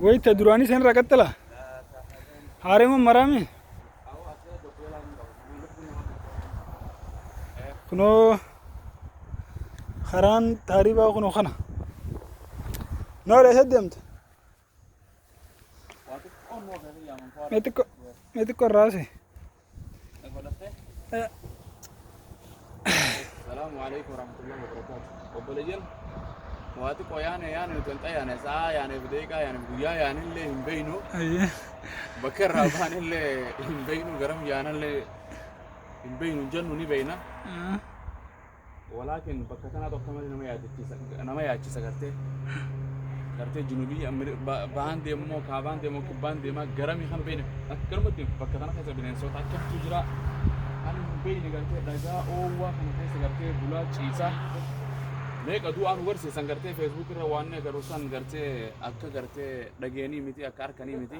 wayta duraanii san irraa qaxxala haareman maraame kunoo karaan taaribaa kunoo kana noora isa deemta Mexico, Mexico Rase. Salamu alaikum warahmatullahi wabarakatuh. Obboleeyyan waa xiqqoo yaane yaane nuti hin xayyaane sa'a yaane bideeqaa yaane guyyaa yaane illee hin beeynu Aye. bakka irraa baane illee hin beeynu garam yaane illee hin beeynu hin jennu ni beeyna. Walaakin bakka tanaatu akka malee nama yaadachiisa nama yaachisa gartee gartee junubii Ameri- ba- bahaan deemumoo kaabaan deemoo kibbaan deemaa garami kan beeyne akkanumatti bakka tana keessa bineensoota akkamtu jira kan hin beeyne gartee dhagaa oowwaa kana keessa gartee bulaa ciisaa meeqa du'aa nu garsiisan gartee feesbuuk irra waan agarru san gartee akka gartee dhageenii miti akka harkanii miti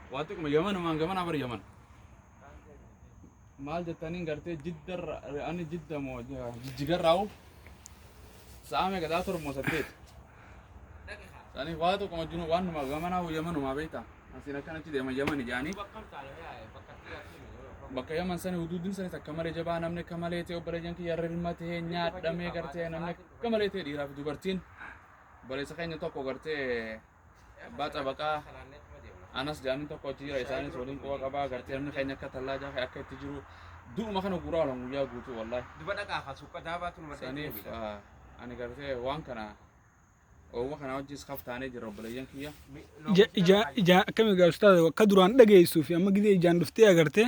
waa xiqquma yamanumaan gamanaa bar yaman maal jettaniin gartee jiddarra ani jidda moo jijjigarraa'u sa'a meeqa sa'a torba moo saddeet sanii waa tokkuma jinu waan numa gamanaa yamanumaa beektaa asiin akkan achi deeman yamani jaanii bakka yaman sani huduudin sanis akka malee jabaa namni akka malee ta'e obboleeyyan kiyya rirma ta'e nyaadhamee gartee namni akka malee ta'e dhiiraa fi dubartiin obboleessa keenya tokko gartee abbaa xabaqaa anas jaamin tokko achi jira isaanis waliin quba qabaa agartee namni keenya akka tallaa jaafe akka itti jiru du'uma kana guraa olan guyyaa guutuu wallahi duba dhaqaa kaa suuqa daabaatu numa saniif ah, ani gartee waan kana oowwa kana wajjis kaf taanee jira obboleeyyan kiyya Ija- ija- ija- akkami egaa ustaaza akka duraan dhageessuu fi amma gidee ijaan dhuftee agartee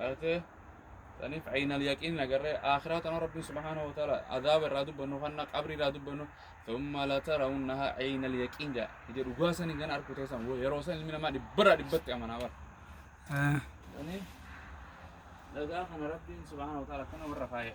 Ate saniif aynal yaqiin agarree akhiraa tana rabbiin subhaanahu wa ta'ala azaaba irraa dubbannu kanna qabrii irraa dubbannu thumma latarawunnaha aynal yaqiin jaa ija dhugaa san hin arku teessan yeroo san ilmi namaa dhibbarraa dhibbatti amanaa bara. Saniif dhagaa kana rabbiin subhaanahu wa ta'ala akkana warra faaya.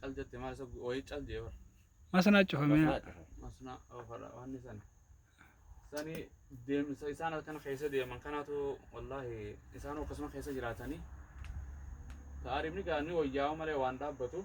Cal jette maal isa wayii cal jee bara. Masanaa cufamee. Masnaa oofadha waan isan. Isani deemsa isaan halkan keessa deeman kanaatu wallaahi isaan akkasuma keessa jiraatanii. Taarifni gaanii wayyaa'u malee waan dhaabbatu.